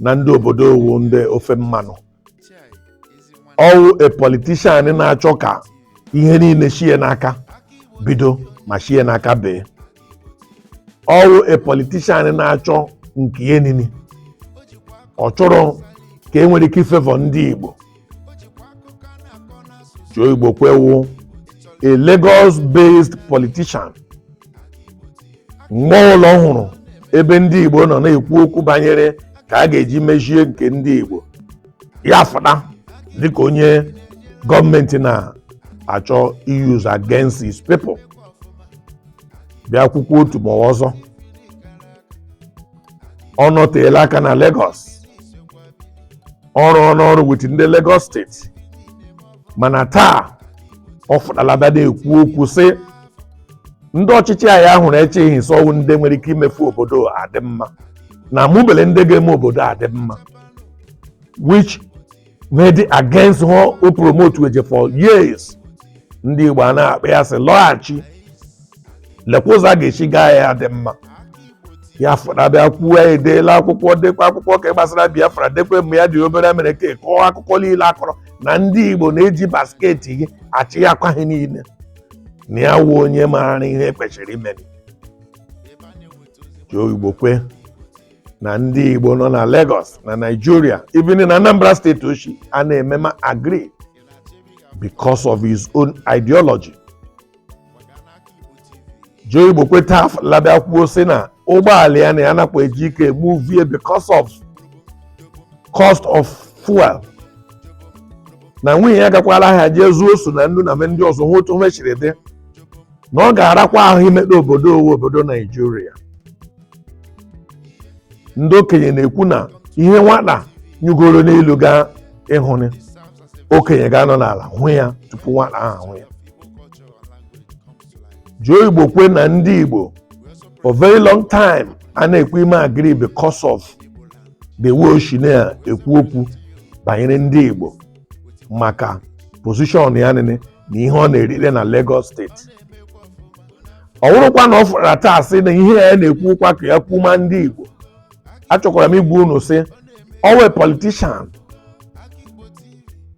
na ndị obodo wụ ndị ofe mmanụ ọ wụ a politician na-achọ ka ihe niile shie n'aka bido ma shie n'aka bee ọ wụ a politician na-achọ nke ihe niine ọ chọrọ ka e nwere ike ifavour ndị Igbo Joe Igbokwe wụ a Lagos-based politician, mgbe ọwụla ọ hụrụ ebe ndị Igbo nọ na-ekwu okwu banyere ka a ga-eji mezie nke ndị Igbo ya fụta dịka onye gọọmenti na-achọ use against his people bịa kwuo okwu otu ma ọ wụ ọzọ ọ nọteela aka na Lagos ọ rụọna ọrụ with ndị Lagos steeti mana taa ọ fụtala bịa na-ekwu okwu sị ndị ọchịchị anyị hụrụ echeghị m sị ọ wụ ndị nwere ike imefu obodo adị mma na amụbele ndị ga-eme obodo adị mma which made it against ihe ọ promote weje for years ndị Igbo a na-akpọ ya sị lọghachi lekwa ụzọ a ga-esi gaa ya dị mma ya fụta bịa kwuo edeela akwụkwọ dekwa akwụkwọ ka gbasara biafra dekwe mgbe ya dị obere mere ka kọọ akụkọ niile ọ kọrọ na ndị igbo na-eji basketi gị achị ya akwa ha niile na ya wụ onye maara ihe kwesịrị imeri Joe Igbokwe na ndị igbo nọ na Lagos na Nigeria even na Anambra steeti o shi a na-eme ma agree because of his own ideology Joe Igbokwe taa fụtala bịa kwuo sị na ụgbọala ya na ya anakwa eji ike emove ya because of cost of fuel na nwunye ya gakwala ahịa jee zụọ ose na nnu na ihe ndị ọzọ hụ otu ihe siri dị na ọ ga-arakwa ahụ imeta obodo wụ obodo naijiria ndị okenye na-ekwu na ihe nwata nyigoro n'elu gaa ịhụnị okenye ga-anọ n'ala hụ ya tupu nwata ahụ ahụ ya Joe Igbokwe na ndị igbo for very long time a na-ekwu ime agree because of the way o shi na-ekwu okwu banyere ndị igbo maka position ya nile na ihe ọ na-erite na Lagos steeti ọ wụrụkwa na ọ fụtara taa sị na ihe ya na-ekwu kwa ka ya kwuma ndị igbo achọkwara m ịgwa unu sị ọ wụ a politician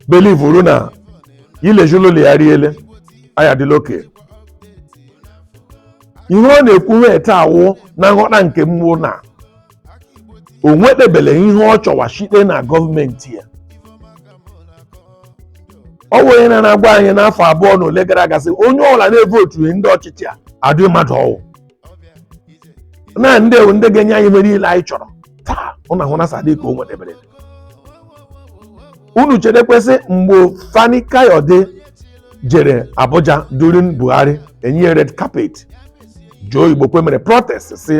belivuru na ilejulụlụ ya riele aya dịla oke ihe ọ na-ekwuhe taa wụ na nghọta nke m wụ na o nwetebele ihe ọ chọwa site na gọọmenti a ọ wụ onye na-agwa anyị n'afọ abụọ na ole gara aga sị onye ọbụla na-evotughị ndị ọchịchị a adịghị mmadụ ọ wụ na ndị a wụ ndị ga-enye anyị ihe niile anyị chọrọ taa ụna hụ na sadik o nwedebere unu chetekwa sị mgbe fani kayode jere abuja during buhari enye red carpet joe igbokwe mere protest sị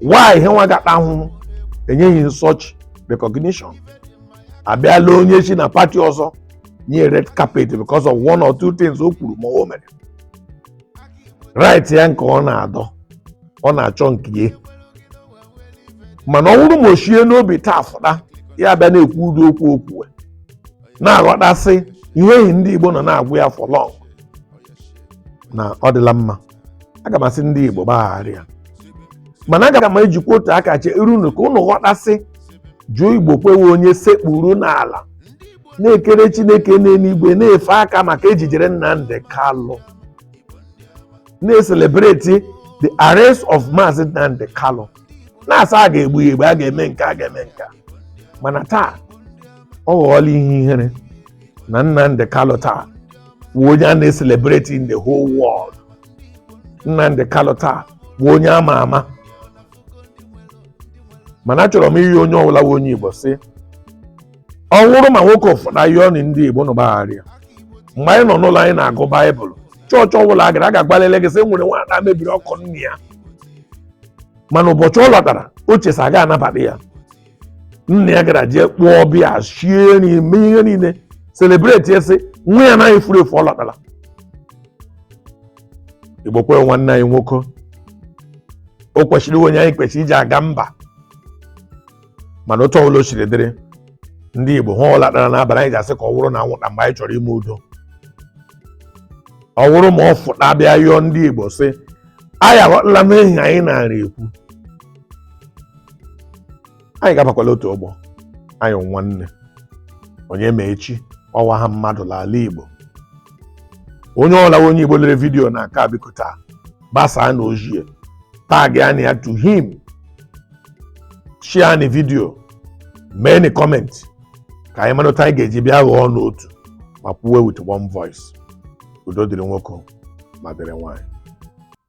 why yanwa ga-ata ahụhụ enyeghị such recognition abịala onye si na pati ọzọ nye red carpet because of one or two things o kwuru ma o mere right ya nke ọ na-adọ ọ na-achọ nke ya mana ọ wụrụ ma o shie n'obi taa fụta ya bịa na-ekwu ụdị okwu okwu na-aghọta sị ihe ehi ndị Igbo nọ na-agwa ya for long na ọ dịla mma aga m asị ndị Igbo gbaghara ya mana aga m ejikwa otu aka cheere ụnụ ka ụnụ ghọta sị joe igbokwe wụ onye sekpuru n'ala na-ekere chineke n'eluigwe na-efe aka maka ejijere nnamdị kalụ na-eselebreti the arrest of maazị nnamdị kalụ na-asị a ga-egbu ya egbu a ga-eme nke a a ga-eme nke a. mana taa ọ ghọọla ihe ihere na nnamdị kalụ taa wụ onye a na-eselebreti in the whole world nnamdị kalụ taa wụ onye ama ama mana achọrọ m ịyọ onye ọbụla wụ onye igbo sị ọ wụrụ ma nwoke a fụta yọọ nị ndị Igbo nị gbaghara ya mgbe anyị nọ n'ụlọ anyị na-agụ baịbụl chọọchị ọbụla a gara a ga-agwali gị sị nwere nwata mebiri akụ nna ya mana ụbọchị ọ lọtara o che sị aga anabata ya nna ya gara jee kpọọ ọbịa shie nri mee ihe niile selebreti ya sị nwa ya anaghị furu efu ọ lọtala igbokwe wụ nwanne anyị nwoke o kwesịrị ịwụ onye anyị kwesịrị iji aga mba mana otu ọbụla o siri dịrị ndị Igbo ihe ọla tara n'abalị anyị ga-asị ka ọ wụrụ na anwụnta mgbe anyị chọrọ ime udo ọ wụrụ ma ọ fụta bịa yọọ ndị Igbo sị anyị aghọtala m ihe anyị na-ara ekwu anyị ga-abakwala otu ụgbọ anyị wụ nwanne onye ma echi ọ wụ aha mmadụ n'ala Igbo onye ọla wụ onye Igbo lere vidiyo nke a biko taa gbasaa ni ozi a tag ni ya to him share ni vidio mee ni comment ka anyị mara otu anyị ga-eji bịa ghọọ n'otu ma kwuwe with one voice udo dịrị nwoke ma dịrị nwaanyị